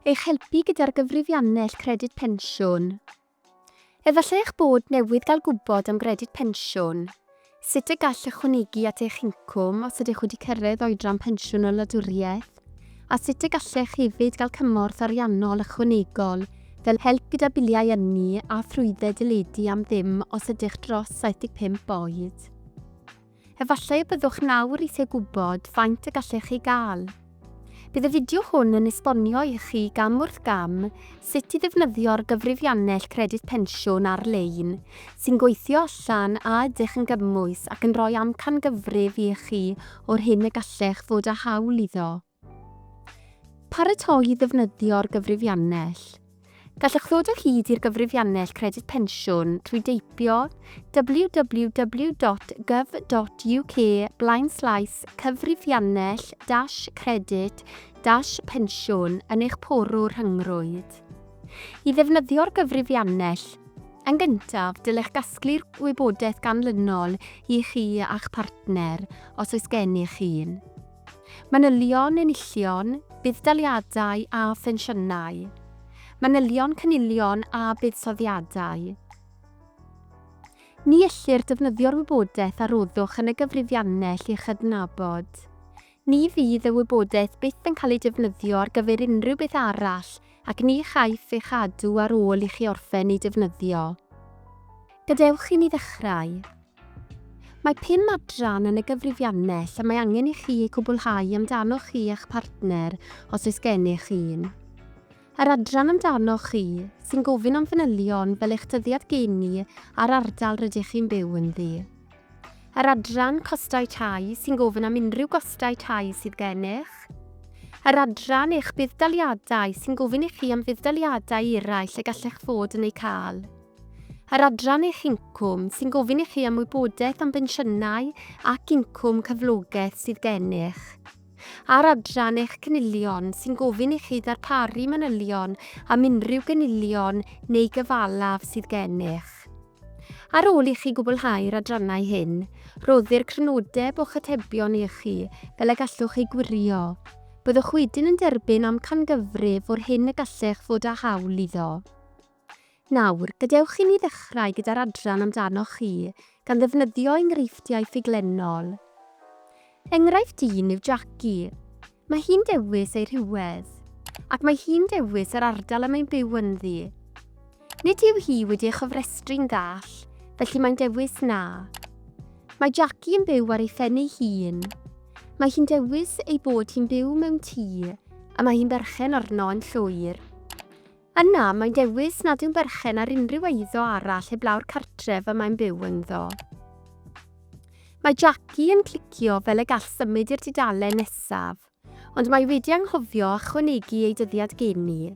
Eich helpu gyda'r gyfrifiannell Credyd Pensiwn. Efallai eich bod newydd gael gwybod am Gredyd Pensiwn, sut y gall ychwanegu at eich incwm os ydych wedi cyrraedd oedran pensiwn y wladwriaeth, a sut y gallech hefyd gael cymorth ariannol ychwanegol fel help gyda biliau ynni a thrwydded deledu am ddim os ydych dros 75 oed. Efallai y byddwch yn awr eisiau gwybod faint y gallech chi gael. Bydd y fideo hwn yn esbonio i chi gam wrth gam sut i ddefnyddio'r gyfrifiannell Credyd Pensiwn ar-lein sy'n gweithio allan a ydych yn gymwys ac yn rhoi amcangyfrif i chi o'r hyn y gallech fod â hawl iddo. Paratoi i ddefnyddio'r gyfrifiannell. Gallwch ddod o hyd i'r gyfrifiannell Credyd Pensiwn trwy deipio www.gov.uk blaenslaes cyfrifiannell dash credyd dash pensiwn yn eich porw rhyngrwyd. I ddefnyddio'r gyfrifiannell, yn gyntaf, dylech gasglu'r wybodaeth ganlynol i chi a'ch partner, os oes gennych un. Manylion enillion, budd-daliadau a phensiynau. Manylion cynilion a buddsoddiadau. Ni ellir defnyddio'r wybodaeth a roddwch yn y gyfrifiannell i chydnabod. Ni fydd y wybodaeth byth yn cael ei defnyddio ar gyfer unrhyw beth arall ac ni chaiff ei chadw ar ôl i chi orffen ei defnyddio. Gadewch i ni ddechrau. Mae pum adran yn y gyfrifiannell lle mae angen i chi eu cwblhau amdanoch chi a'ch partner, os oes gennych un. Yr adran amdanoch chi, sy'n gofyn am fanylion fel eich dyddiad geni a'r ardal rydych chi'n byw ynddi. Yr adran Costau Tai, sy'n gofyn am unrhyw gostau tai sydd gennych. Yr adran Eich Budd-daliadau, sy'n gofyn i chi am fudd-daliadau eraill y gallech fod yn eu cael. Yr adran eich incwm, sy'n gofyn i chi am wybodaeth am bensiynau ac incwm cyflogaeth sydd gennych. A'r adran eich cynilion, sy'n gofyn i chi ddarparu manylion am unrhyw gynilion neu gyfalaf sydd gennych. Ar ôl i chi gwblhau'r adrannau hyn, rhoddir crynodeb o'ch atebion i chi fel y gallwch eu gwirio. Byddwch wedyn yn derbyn amcangyfrif o'r hyn y gallech fod â hawl iddo. Nawr, gadewch i ni ddechrau gyda'r adran amdanoch chi, gan ddefnyddio enghreifftiau ffuglenol. Enghraifft un yw Jackie. Mae hi'n dewis ei rhywedd, ac mae hi'n dewis yr ardal y mae'n byw ynddi. Nid yw hi wedi ei chofrestru'n ddall, felly mae'n dewis na. Mae Jackie yn byw ar ei phen ei hun. Mae hi'n dewis ei bod hi'n byw mewn tŷ, a mae hi'n berchen arno yn llwyr. Yna, mae'n dewis nad yw'n berchen ar unrhyw eiddo arall heblaw'r cartref y mae'n byw ynddo. Mae Jackie yn clicio fel y gall symud i'r dudalen nesaf, ond mae wedi anghofio ychwanegu ei dyddiad geni.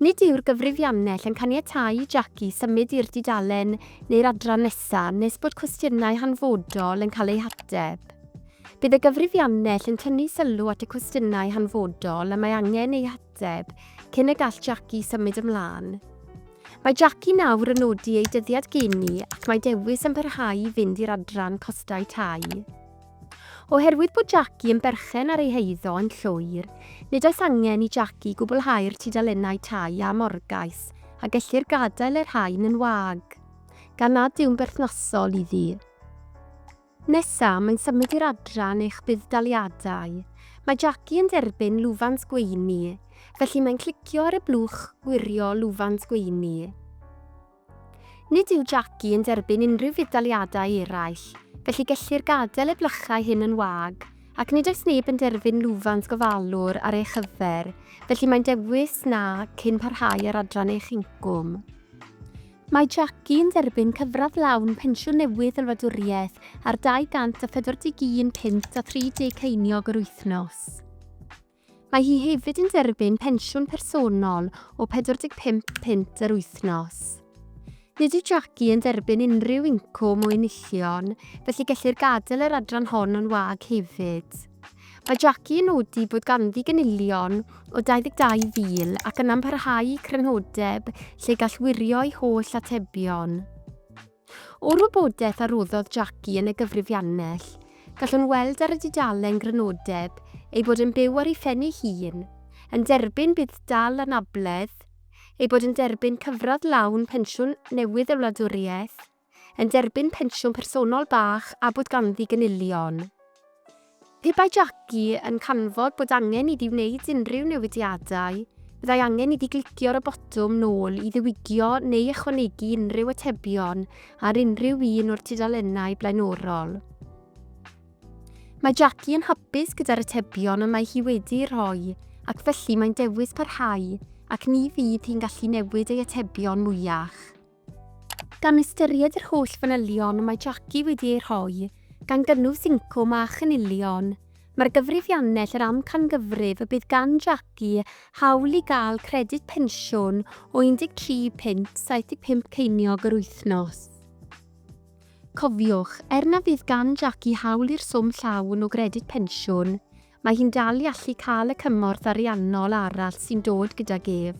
Nid yw'r gyfrifiannell yn caniatáu i Jackie symud i'r dudalen neu'r adran nesaf nes bod cwestiynau hanfodol yn cael eu hateb. Bydd y gyfrifiannell yn tynnu sylw at y cwestiynau hanfodol y mae angen eu hateb. Deb, cyn y gall Jackie symud ymlaen. Mae Jackie nawr yn nodi ei dyddiad geni ac mae dewis yn parhau i fynd i'r adran costau tai. Oherwydd bod Jackie yn berchen ar ei heiddo yn llwyr, nid oes angen i Jackie gwblhau'r tudalennau tai a morgais a gellir gadael y rhain yn wag, gan nad yw'n berthnasol iddi. Nesa, mae'n symud i'r adran eich budd-daliadau. Mae Jackie yn derbyn lwfans gweini, felly mae'n clicio ar y blwch Gwirio Lwfans Gweini. Nid yw Jackie yn derbyn unrhyw fudd-daliadau eraill, felly gellir gadael y blychau hyn yn wag, ac nid oes neb yn derbyn lwfans gofalwr ar ei chyfer, felly mae'n dewis Na cyn parhau â'r adran eich incwm. Mae Jackie yn derbyn cyfradd lawn pensiwn newydd y wladwriaeth ar 241 punt a 30 ceiniog yr wythnos. Mae hi hefyd yn derbyn pensiwn personol o 45 punt yr wythnos. Nid yw Jackie yn derbyn unrhyw incwm o enillion, felly gellir gadael yr adran hon yn wag hefyd. Mae Jackie yn nodi bod ganddi gynilion o 22,000 ac yna'n parhau i crynodeb lle gall wirio'i holl atebion. O'r wybodaeth a roddodd Jackie yn y gyfrifiannell, gallwn weld ar y dudalen grynodeb ei bod yn byw ar ei phen'i hun, yn derbyn budd-dal anabledd, ei bod yn derbyn cyfradd lawn pensiwn newydd y wladwriaeth, yn derbyn pensiwn personol bach a bod ganddi gynilion. Pe bai Jackie yn canfod bod angen iddi wneud unrhyw newidiadau, byddai angen iddi glicio ar y botwm 'Nôl' i ddiwygio neu ychwanegu unrhyw atebion ar unrhyw un o'r tudalennau blaenorol. Mae Jackie yn hapus gyda'r atebion y mae hi wedi'u rhoi, ac felly mae'n dewis parhau, ac ni fydd hi'n gallu newid ei atebion mwyach. Gan ystyried yr holl fanylion mae Jackie wedi eu rhoi, gan gynnwys incwm a chynilion, mae'r gyfrifiannell yr amcangyfrif y bydd gan Jackie hawl i gael credyd pensiwn o 13 punt 75 ceiniog yr wythnos. Cofiwch, er na fydd gan Jackie hawl i'r swm llawn o gredyd pensiwn, Mae hi'n dal i allu cael y cymorth ariannol arall sy'n dod gydag ef,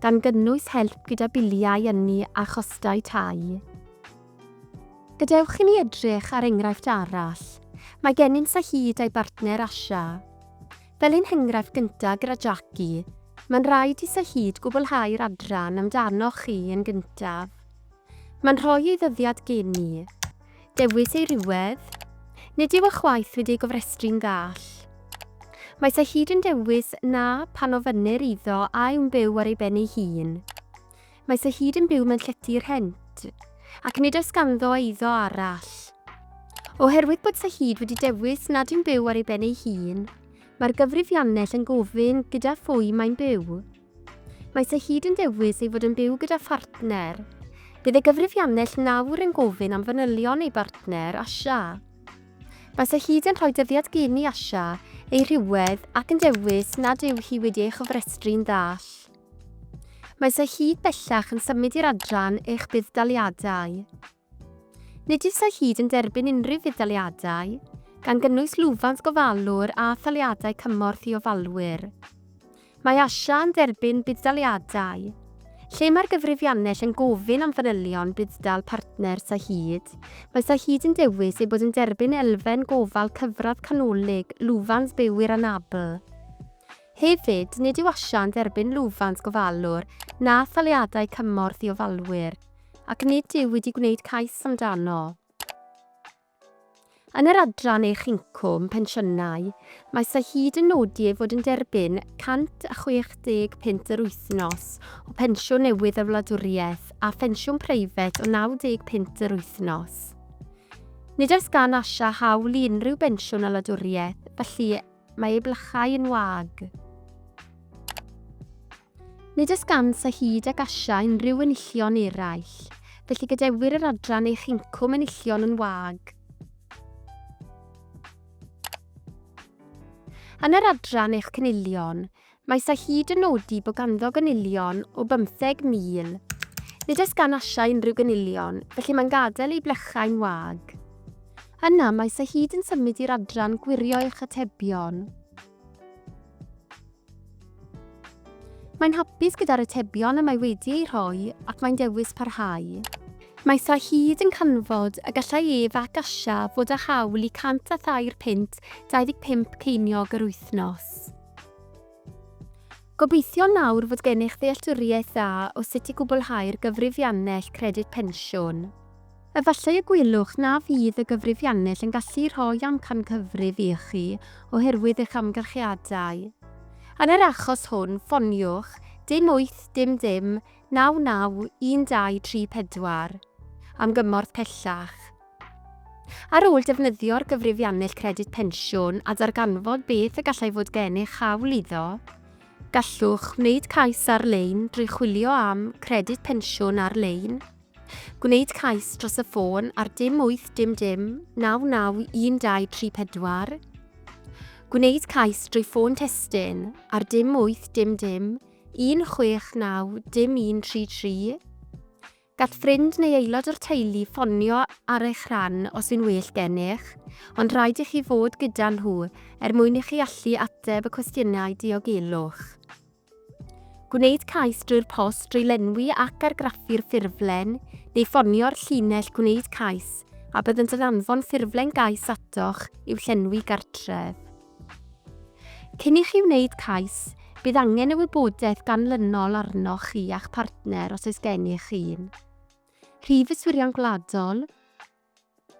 gan gynnwys help gyda biliau ynni a chostau tai. Gadewch i ni edrych ar enghraifft arall. Mae gennym Saheed a'i bartner Asha. Fel ein henghraifft gyntaf gyda Jackie, mae'n rhaid i Saheed gwblhau'r adran amdanoch chi yn gyntaf. Mae'n rhoi ei ddyddiad gen i. Dewis ei rhywedd? Nid yw eich waith wedi ei gofrestru'n ddall. Mae sa hyd yn dewis na pan ofynnir iddo a yw'n byw ar ei ben ei hun. Mae sa hyd yn byw mewn llety rhent, ac nid oes ganddo eiddo arall. Oherwydd bod sa hyd wedi dewis nad yw'n byw ar ei ben ei hun, mae'r gyfrifiannell yn gofyn gyda phwy mae'n byw. Mae Sir Hyd yn dewis ei fod yn byw gyda phartner. Bydd y gyfrifiannell nawr yn gofyn am fanylion ei bartner, Asha. Mae Sir Hyd yn rhoi dyddiad gyn i Asha, ei rhywedd, ac yn dewis nad yw hi wedi ei chofrestru'n ddall. Mae Sir Hyd bellach yn symud i'r adran eich budd-daliadau. Nid yw'r hyd yn derbyn unrhyw fudd-daliadau, gan gynnwys lwfans gofalwr a thaliadau cymorth i ofalwyr. Mae ASIA yn derbyn budd-daliadau, lle mae'r gyfrifiannell yn gofyn am fanylion budd-dal partner Sahid. Mae Sahid yn dewis ei bod yn derbyn elfen gofal cyfradd canolig lwfans bywwyr anabl. Hefyd, nid yw asiant erbyn lwfans gofalwr na thaliadau cymorth i ofalwyr, ac nid yw wedi gwneud cais amdano. Yn yr adran Eich Incwm, Pensiynau, mae Sir hyd yn nodi ei fod yn derbyn 160 punt yr wythnos o Pensiwn Newydd y Wladwriaeth a phensiwn preifat o 90 punt yr wythnos. Nid oes gan Asha hawl i unrhyw bensiwn y wladwriaeth, felly Mae ei blychau yn wag. Nid oes gant a hyd ac Asia unrhyw enillion eraill, felly gadewir yr adran eich incwm enillion yn wag. Yn yr adran eich cynilion, Mae Sy hyd yn nodi bod ganddo gynilion o 50,000. Nid oes gan Asha unrhyw gynilion, felly mae'n gadael ei blechau'n wag. Yna mae Sy hyd yn symud i'r adran Gwirio eich atebion. Mae'n hapus gyda'r atebion y mae wedi eu rhoi ac mae'n dewis parhau. Mae Sy hyd yn canfod y gallai ef ac Asha fod â hawl i 103 punt 25 ceiniog yr wythnos. Gobeithio nawr fod gennych ddealltwriaeth dda o sut i gwblhau'r gyfrifiannell Credyd Pensiwn. Efallai y gwelwch na fydd y gyfrifiannell yn gallu rhoi amcangyfrif i chi oherwydd eich amgylchiadau. Yn yr achos hwn, ffoniwch dim wyth dim dim naw naw un dau tri pedwar am gymorth pellach. Ar ôl defnyddio'r gyfrifiannell Credyd Pensiwn a darganfod beth y gallai fod gennych hawl iddo, gallwch wneud cais ar-lein drwy chwilio am Credyd Pensiwn ar-lein, gwneud cais dros y ffôn ar dim 8 dim dim 99 123 4, gwneud cais drwy ffôn testun ar dim 8 dim dim 169 dim 133, Gall ffrind neu aelod o'r teulu ffonio ar eich rhan os yw'n well gennych, ond rhaid i chi fod gyda nhw er mwyn i chi allu ateb y cwestiynau diogelwch. Gwneud cais drwy'r post drwy lenwi ac argraffu'r ffurflen, neu ffonio'r llinell gwneud cais a byddant yn anfon ffurflen gais atoch i'w llenwi gartref. Cyn i chi wneud cais, bydd angen y wybodaeth ganlynol arnoch chi a'ch partner os oes gennych un, Rhif y Swyddion Gwladol,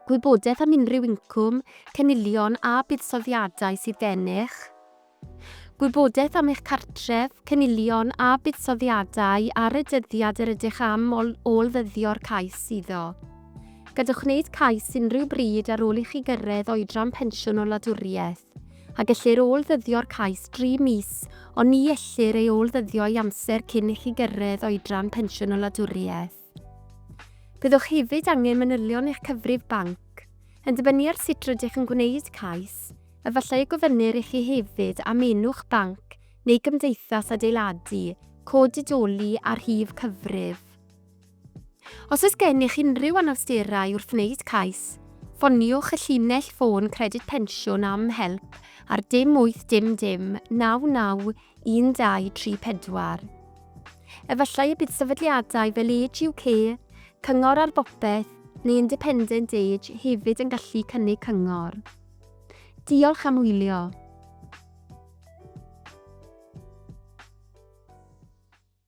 Gwybodaeth am unrhyw incwm, cynilion a buddsoddiadau sydd gennych, Gwybodaeth am eich cartref, cynilion a buddsoddiadau ar y dyddiad yr ydych am ôl-ddyddio'r cais iddo. Gadewch wneud cais unrhyw bryd ar ôl i chi gyrraedd oedran pensiwn o wladwriaeth, a gellir ôl-ddyddio'r cais dri mis ond ni ellir ei ôl-ddyddio i amser cyn i chi gyrraedd oedran pensiwn o wladwriaeth. Byddwch hefyd angen manylion eich cyfrif banc. Yn dibynnu ar sut rydych yn gwneud cais, efallai y gofynnir i chi hefyd am enw'ch banc neu gymdeithas adeiladu, cod didoli a rhif cyfrif. Os oes gennych unrhyw anawsterau wrth wneud cais, ffoniwch y llinell ffôn Credyd Pensiwn am help ar dim 800 991234. Efallai y bydd sefydliadau fel Age UK, Cyngor ar Bopeth neu Independent Age hefyd yn gallu cynnig cyngor. Diolch am wylio.